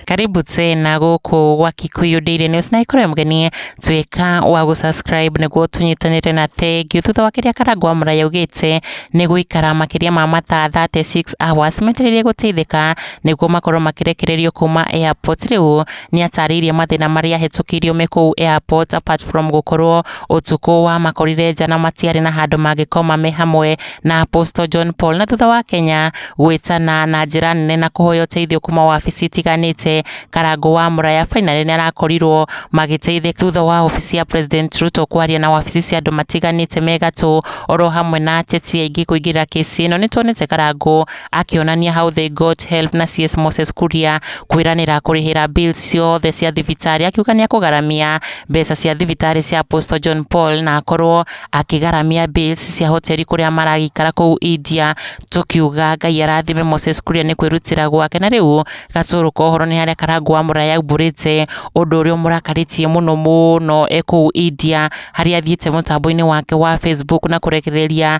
karibu tena gũkũ gwa Kikuyu Daily News na ikorwo mgeni tuĩka wa gũsubscribe nĩguo tũnyitanĩre na thengiũ thutha wa kĩrĩa Karangũ wa Mũraya augĩte nĩ gũikara makĩria ma mathaa 36 hours metereire gũteithĩka nĩguo makorwo makĩrekererio kuma airport rĩu Nĩatarĩirie mathĩna marĩa ahetũkĩirio me kũu airport apart from gũkorwo ũtukũ wamakorire nja na matiarĩ na handũ mangĩkoma me hamwe na Apostle John Paul na thutha wa Kenya gwĩtana na njĩra nene na kũhoya ũteithio kuma wabici itiganĩte Karangũ wa Muraya finally nĩarakorirwo magĩteithĩka thutha wa wabici ya President Ruto kwaria na wabici cia andũ matiganĩte me gatũ oro hamwe na ateti aingĩ kũingĩrĩra kĩsi ĩno nĩtuonete Karangũ akĩonania How They Got Help na CS Moses Kuria kwĩranĩra kũrĩhĩra bill ciothe cia thibitarĩ akiuga nĩ akũgaramia mbeca cia thibitarĩ cia Apostle John Paul na akorwo akĩgaramia bills cia hoteli kũrĩa maragĩikara kũu India tũkiuga Ngai arathime Moses Kuria nĩ kwĩrutĩra gwake na rĩu gacũrũ kohoro nĩ harĩa karangu wa mũraya umbũrĩte ũndũ ũrĩa ũmũrakarĩtie mũno mũno e kũu India harĩa athiĩte mũtambo-inĩ wake wa Facebook na kũrekereria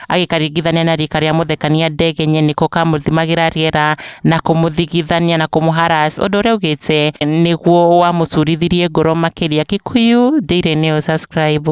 agĩkaringithania na rika rĩa mũthekania ndege nye nĩko kamũthimagĩra rĩera na kũmũthigithania na kũmũharas ũndũ ũrĩa augĩte nĩguo wamũcurithirie ngoro makĩria. Kikuyu Daily News subscribe.